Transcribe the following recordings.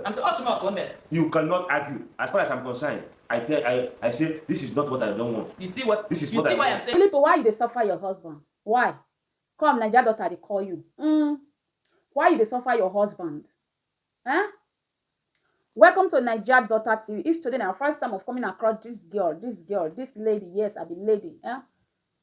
I'm so hot mouth one day. You cannot argue. As far as I'm concerned, I tell I, I say this is not what I don't want. You see what? This is you what see I why want. I'm saying. Philippo, why you dey suffer your husband? Why? Come, Naija daughter, they call you. Mm. Why you dey suffer your husband? Huh? Welcome to Naija daughter TV. If today na your first time of coming across this girl, this girl, this lady, yes, I be lady. Huh?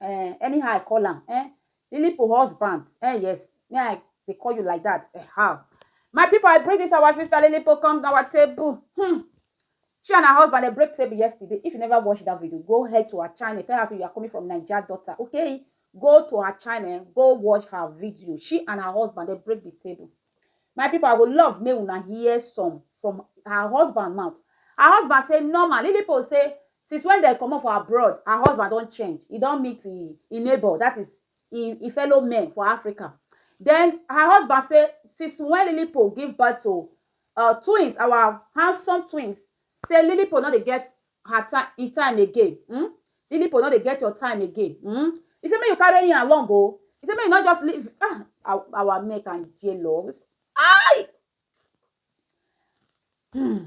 Eh, anyhow I call am eh. Lilipo husband eh yes, me I dey call you like that eh how. My people I bring this our sister Lilipo come our table. Hmm. She and her husband they break table yesterday. If you never watched that video, go head to her channel. Tell her so you are coming from Nigeria daughter. Okay, go to her channel, go watch her video. She and her husband they break the table. My people I go love make una hear some from her husband mouth. Her husband say normal Lilipo say since when dem comot for abroad her husband don change e don meet e e neighbor that is e e fellow men for Africa then her husband say since when Lilipo give birth to uh, twins our handsome twins Say Lilipo no dey get her time he time again um Lilipo no dey get your time again um he say make you carry him along o he say make you no just leave ah our our men can jealous ai hmm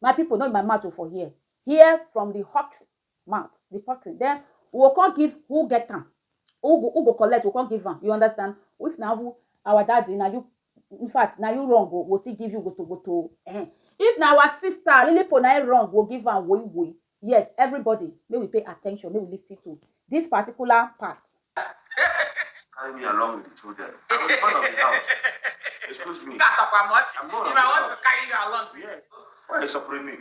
my people no be my mouth o for here hear from the hot mouth the person then we go come give who get am who go who go collect we go come give am you understand if na who our daddy na you in fact na you wrong o we still give you gbotogoto o eh if na our sister lilipo na im wrong we give am woyi woyi yes everybody make we pay attention make we lis ten to this particular part. carry me along with the children. I'm the man of the house. Excuse me. That of how much? I'm not If I want to carry you along with Yes. Why are you suffering me?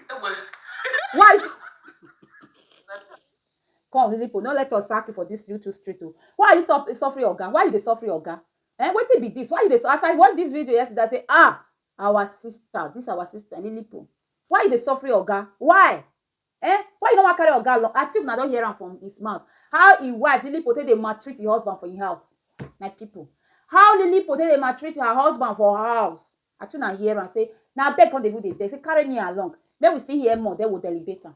Why? Come, Lilipo, no let us sack you for this YouTube street. Oh. Why are you suffering, Oga? Why are you suffering, Oga? Ehn wetin be this why you dey as I watch this video yesterday I say ah our sister this our sister lilipo why you dey suffering oga why ehn why you no wan carry oga along I think una don hear am from his mouth how him wife lilipo take dey maltreat him husband for him house my people how lilipo take dey maltreat her husband for her house I think una hear am say na beg come dey even dey beg say carry me along make we still hear more then we go elevate am.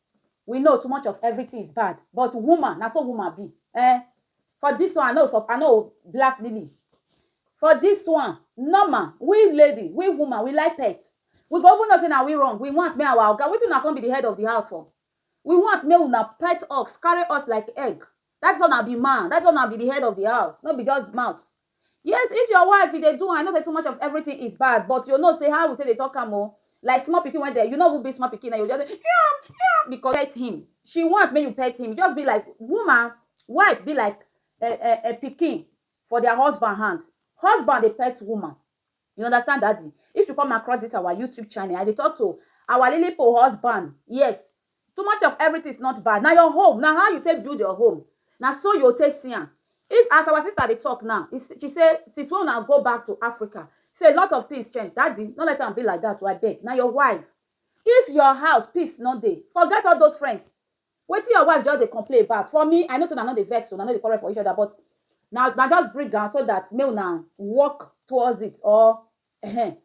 We know too much of everything is bad but woman na so woman be eh for this one I no sup I no blast Lily for this one normal we lady we woman we like pet we go even know say na we wrong we want make our oga wetin una come be the head of the house for we want make una pet us carry us like egg That is why una be man. That is why una be the head of the house. No be just mouth. Yes, if your wife e dey do I know say too much of everything is bad, but you know say how we take dey talk am o. Oh, like small pikin when they, you know who be small pikin, and you just say, yum, yum, because pet him. She want make you pet him. Just be like woman, wife be like a, a, a pikin for their husband hand. Husband dey pet woman. You understand daddy? If you come across this our YouTube channel, I dey talk to our Lily Po husband. Yes, too much of everything is not bad. Now your home, now how you take build your home. Now so you take see am. If as our sister dey talk now, she say since when una go back to Africa, say a lot of things change. Daddy, no let am be like that. I beg. Now your wife. If your house peace no dey, forget all those friends. Wetin your wife just dey complain about for me I know say una no dey vex una no dey quarrel for each other but na na just bring am so that make una work towards it or ehen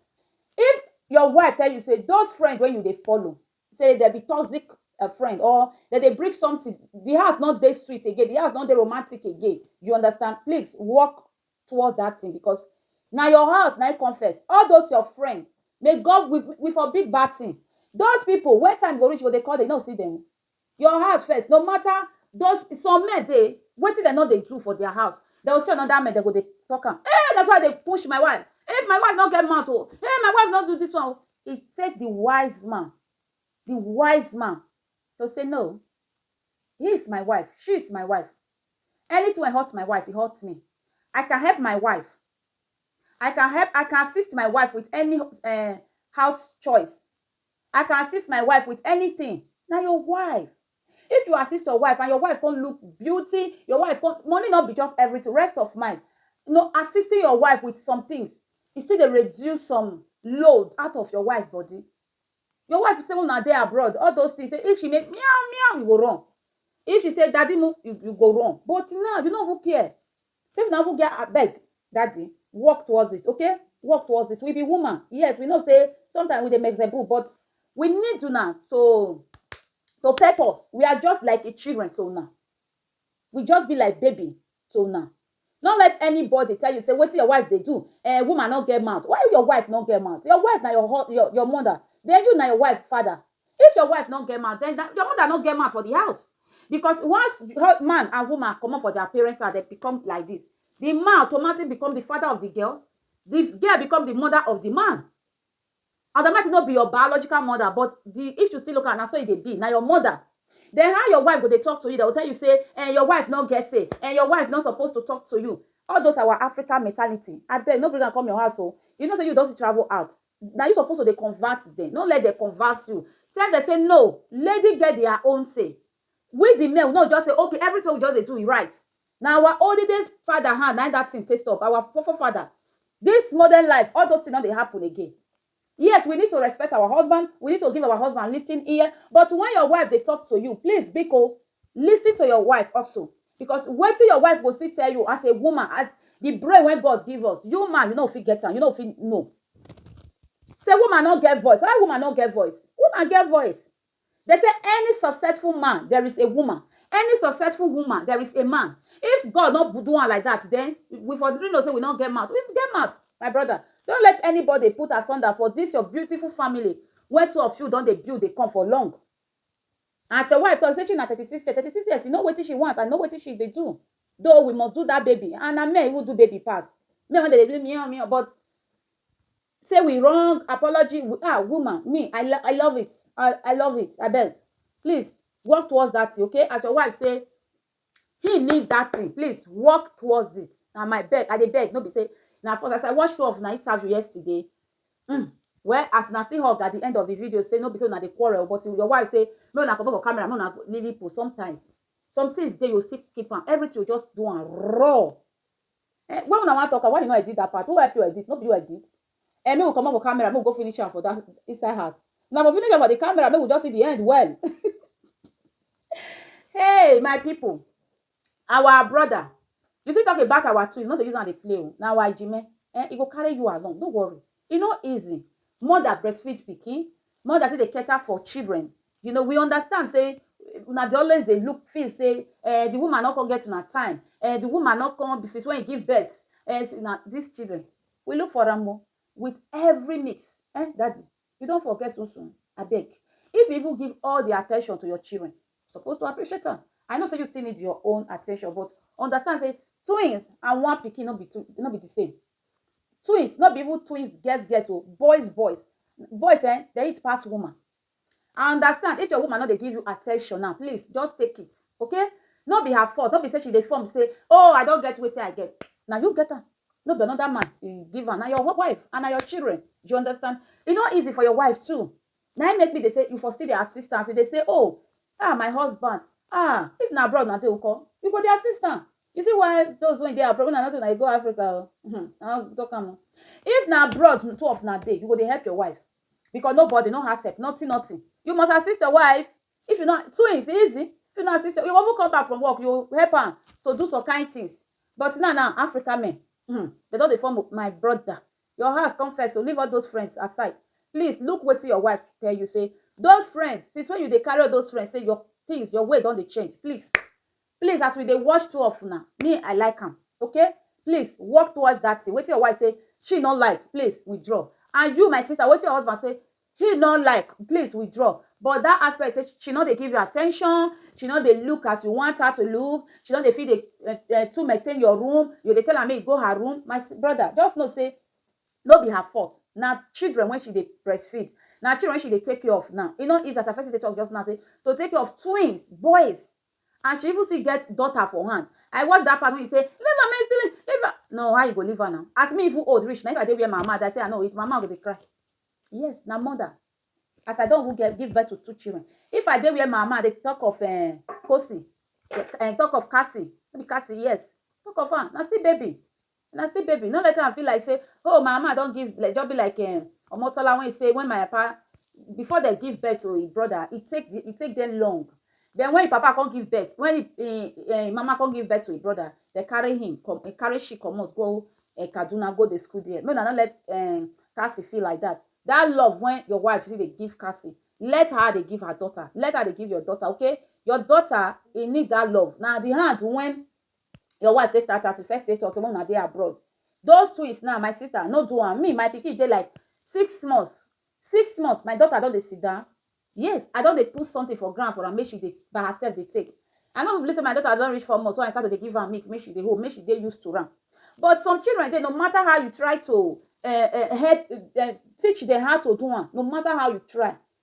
if your wife tell you say those friends wey you dey follow say dem be toxic friend or dem dey bring something the house no dey sweet again the house no dey romantic again you understand please work towards that thing because na your house na come first all those your friend may God we, we for big bad thing those people when time go reach go they call they no see them your house first no matter those some men they wetin dem no dey do for their house dem go see another man dem go dey talk am hey that's why they push my wife hey my wife no get mouth oh hey my wife no do this one oh it take the wise man the wise man to say no he is my wife she is my wife Anything wey hurt my wife e hurt me I can help my wife I can help I can assist my wife with any um house choice I can assist my wife with anything na your wife if you assist your wife and your wife come look beauty your wife come money no be just everything rest of mind you know assisting your wife with somethings e still dey reduce some load out of your wife body Your wife say una dey abroad, all those things, say if she make meow meow, you go run. If she say daddy mu, you you go run. But now, you no even care. Say if una even get abeg, daddy, work towards it, okay? Work towards it. We be woman. Yes, we know say sometimes we dey mexebu, but we need una to to pet us. We are just like children to una. We just be like baby to una. No let anybody tell you say wetin your wife dey do eh woman no get mouth why your wife no get mouth your wife na your hus your your mother then you na your wife father if your wife no get mouth then na your mother no get mouth for the house because once hus man and woman comot for their parents house dem become like this the man automatic become the father of the girl the girl become the mother of the man Adamati no be your biological mother but the issue still local na so e dey be na your mother then how your wife go dey talk to you dem go tell you say eh your wife no get say eh your wife no suppose to talk to you all those our African mentality abeg no bring am come your house o you know say you don still travel out na you suppose to dey convert dem no let dem convert you tell dem say no lady get their own say We di men we no just say okay everything wey we just dey do e right na our oldest father hand na im that thing take stop our fore fore father this modern life all those things no dey happen again yes we need to respect our husband we need to give our husband listening ear but when your wife dey talk to you please biko listen to your wife also because wetin your wife go still tell you as a woman as the brain wey God give us you man you no go fit get am you no go fit know say woman no get voice how woman no get voice woman get voice Dem say any successful man there is a woman, any successful woman there is a man. If God no do am like that then we for really know say we no get mouth. We get mouth my brother. Don't let anybody put asunder for this your beautiful family wey two of you don dey build dey come for long. As your wife talk say she na thirty six years, thirty six years you know wetin she want and know wetin she dey do though we must do that baby and na men even do baby pass. Men wey dem dey do miow miow but Say we wrong apology ah woman me I love I love it I love it abeg please work towards that thing okay as your wife say he need that thing please work towards it na my beg I dey beg no be say na for as I watch two of una interview yesterday mm, well as una still hug at the end of the video say no be say una dey quarrel but your wife say make una comot for camera make una lily post sometimes some things dey you still keep am everything you just do am raw Eh, when una wan talk am, why you no edit that part? Who help you edit? No be you edit? Eh, make we comot for camera, make we go finish am for that inside house. Now for finish am for the camera, make we just see the end well. hey, my people, our brother, you see talk about our twins, not to use am dey play o. Oh. Na our Jime, eh, e go carry you along, no worry. E no easy mother breastfeed pikin, mother still dey cater for children. You know, we understand sey una dey always dey look feel sey um the woman no con get una time, um the woman no con since wey e give birth um see na dis children. We look for am oh with every means. um Daddy, you don forget so-so? Abeg, if you even give all the attention to your children, you suppose to appreciate am. I know sey you still need your own attention but understand sey twins and one pikin no be two no be the same. Twins no be even twins girls girls o, boys boys. Boys ehn, dem eat pass woman. I understand if your woman no dey give you attention now, please just take it okay. No be her fault, no be say she dey form say oh I don get wetin I get. Na you get am, no be another man e give am. Na your wife and na your children. Do you understand? E no easy for your wife too. Na im make me dey say you for still dey assist am as e dey say oh ah my husband ah if na abroad una dey nko? You go dey assist am. You see why those wey dey abroad, una no say una dey go Africa o, um I don talk am o. If na abroad the two of una dey, you go dey help your wife because nobody, no house help, nothing nothing. You must assist your wife. If you no, twins e easy. If you no assist your, you go even come back from work, you go help am to do some kind things. But now now, Africa men um dem don dey form o. My brother, your house come first o, leave all those friends aside. Please look wetin your wife tell you say those friends, since when you dey carry all those friends say your things, your way don dey change. Please Please as we dey watch two of una me I like am okay please work towards that thing wetin your wife say she no like please withdraw and you my sister wetin your husband say he no like please withdraw but that aspect say she no dey give you attention she no dey look as you want her to look she no dey fit dey uh, uh, to maintain your room you dey tell her make you go her room my brother just know say no be her fault na children when she dey breastfeed na children when she dey take care of now e no easy as i first dey talk just now say to take care of twins boys and she even still get daughter for hand i watch that part when you say leave am make leave leave am no how you go leave her now as me even old reach na if i dey where my mama dey i say i no eat my mama go dey cry yes na mother as i don even get give birth to two children if i dey where my mama dey talk of eh, kosi eh, talk of kasi no be kasi yes talk of am na still baby And I say baby no let am feel like say oh my mama don give like just be like um Omotola when he say when my papa before dem give birth to him brother e take e take dem long then when him papa come give birth when him him him mama come give birth to him brother dem carry him come carry she comot go um Kaduna go dey school there make una no let um Cassie feel like that that love when your wife still dey give Cassie let her dey give her daughter let her dey give your daughter okay your daughter e need that love na the hand when your wife take start house you first say to tomorrow una dey abroad those twins now my sister no do am me my pikin dey like six months six months my daughter don dey sit down yes i don dey put something for ground for am make she dey by herself dey take i no believe say my daughter don reach four months when i start to dey give am milk make she dey hold make she dey used to am but some children dey no matter how you try to uh, uh, help uh, teach them how to do am no matter how you try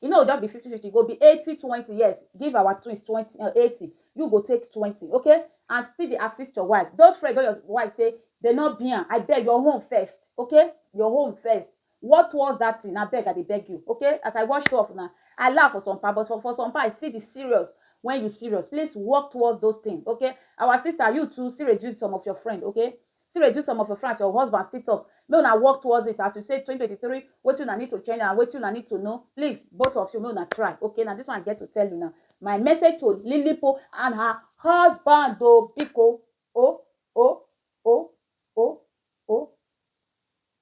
E no go just be fifty fifty, e go be eighty twenty, yes, give our twins twenty um eighty, you go take twenty, okay, and still dey assist your wife. Those friends wey your wife say dem no be am, abeg your own first, okay, your own first, work towards that thing, abeg I dey beg you, okay. As I watch two of una, I laugh for some part, but for some part I see the serious when you serious, please work towards those things, okay. Our sister, you too, still reduce some of your friend, okay. Still reduce some of your friends, your husband still talk make una work towards it as you say twenty twenty three wetin una need to change and wetin una need to know please both of you make una try okay na this one I get to tell una my message to Lilipo and her husband o biko o o o o o.